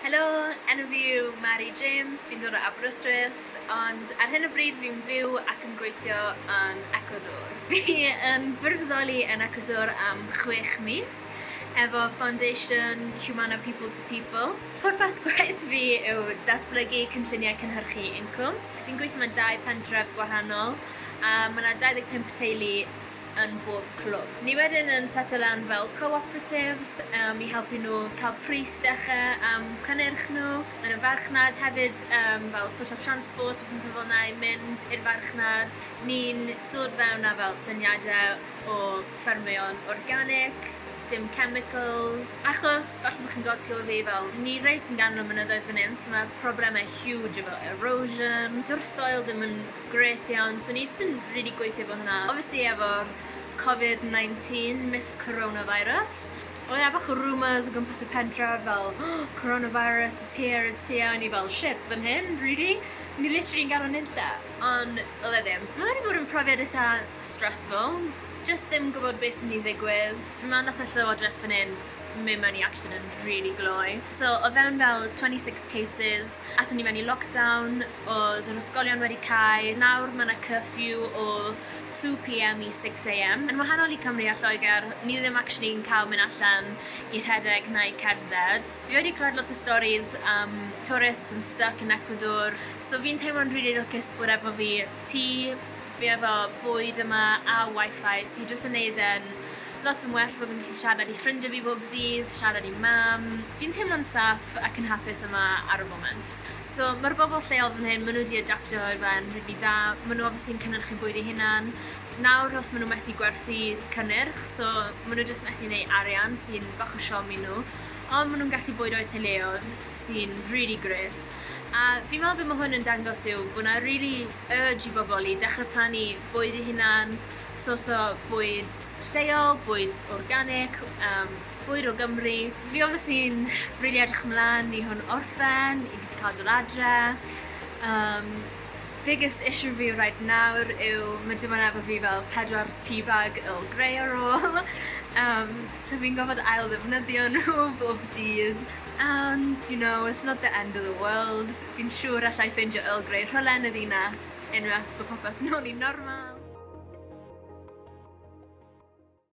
Helo, enw fi yw Mari James, fi'n dod o Aberystwyth, ond ar hyn o bryd fi'n byw ac yn gweithio yn Ecuador. Fi yn gwirfoddoli yn Ecuador am chwech mis efo Foundation Humana People to People. Pwrpas gwaith fi yw datblygu cynlluniau cynhyrchu incwm. Fi'n gweithio mewn dau pentref gwahanol a ma' 'na 25 teulu yn bob clwb. Ni wedyn yn setio lan fel co-operatives um, i helpu nhw cael pris decha am cynnyrch nhw yn y farchnad, hefyd um, fel sort of transport a pethau fel na i mynd i'r farchnad. Ni'n dod fewn â fel syniadau o ffermio'n organic, dim chemicals. Achos, falle bod chi'n gweld tu ôl fi fel, ni reit yn ganol y mynyddoedd fan hyn, so mae problemau huge efo erosion, dyw'r soil ddim yn Grêt iawn, swn i jyst yn rili gweithio efo hwnna. Obviously efo'r Covid 19, Miss Coronavirus, oedd 'na bach o rumours o gwmpas y pentref fel Coronavirus, it's here, it's here, o'n i fel shit, fan hyn? Really? O'n i literally yn gadel nunlle. Ond oedd e ddim. Mae wedi bod yn profiad eitha stressful, jyst ddim gwybod beth sy'n mynd i ddigwydd. Fi meddwl nath y llywodraeth fan hyn mynd mewn i action yn rili glou. So o fewn fel 26 cases, Aethon ni mewn i lockdown, oedd yr ysgolion wedi cau, nawr mae 'na curfew o 2pm i 6am. Yn wahanol i Cymru a Lloegr, ni ddim actually yn cael mynd allan i rhedeg na i cerdded. Fi wedi clywed lot o storis am tourists yn styc yn Ecuador, so fi'n teimlo'n rili lwcus bod efo fi tŷ, fi efo bwyd yma a wifi sy jyst yn neud e'n lot yn well fod fi'n gallu siarad i ffrindie fi bob dydd, siarad i mam, fi'n teimlo'n saff ac yn hapus yma ar y foment. So ma'r bobl lleol fan hyn ma' nhw 'di adaptio i fe'n rili dda, ma' nhw obviously yn cynyrchu bwyd eu hunan, nawr os ma' nhw methu gwerthu cynnyrch so ma' nhw jyst methu neu' arian sy'n bach o siomi nhw, ond ma' nhw'n gallu bwydo i teuluoedd sy'n rili grêt. A fi'n meddwl be ma' hwn yn dangos yw bo' 'na rili urge i bobol i dechre plannu bwyd 'u hunan, sourco bwyd lleol, bwyd organic, yym bwyd o Gymru. Fi obviously yn rili edrych mlan i hwn orffen, i fi 'di ca'l dod adre. Yym biggest issue fi reit nawr yw ma' dim on' efo fi fel pedwar tea bag Earl Grey ar ôl, yym so fi'n gorfod ail ddefnyddio nhw bob dydd. Ond, you know, it's not the end of the world, fi'n siŵr alla i ffeindio Earl Grey rhwle yn y ddinas, unwaith bod popeth nôl i'n normal.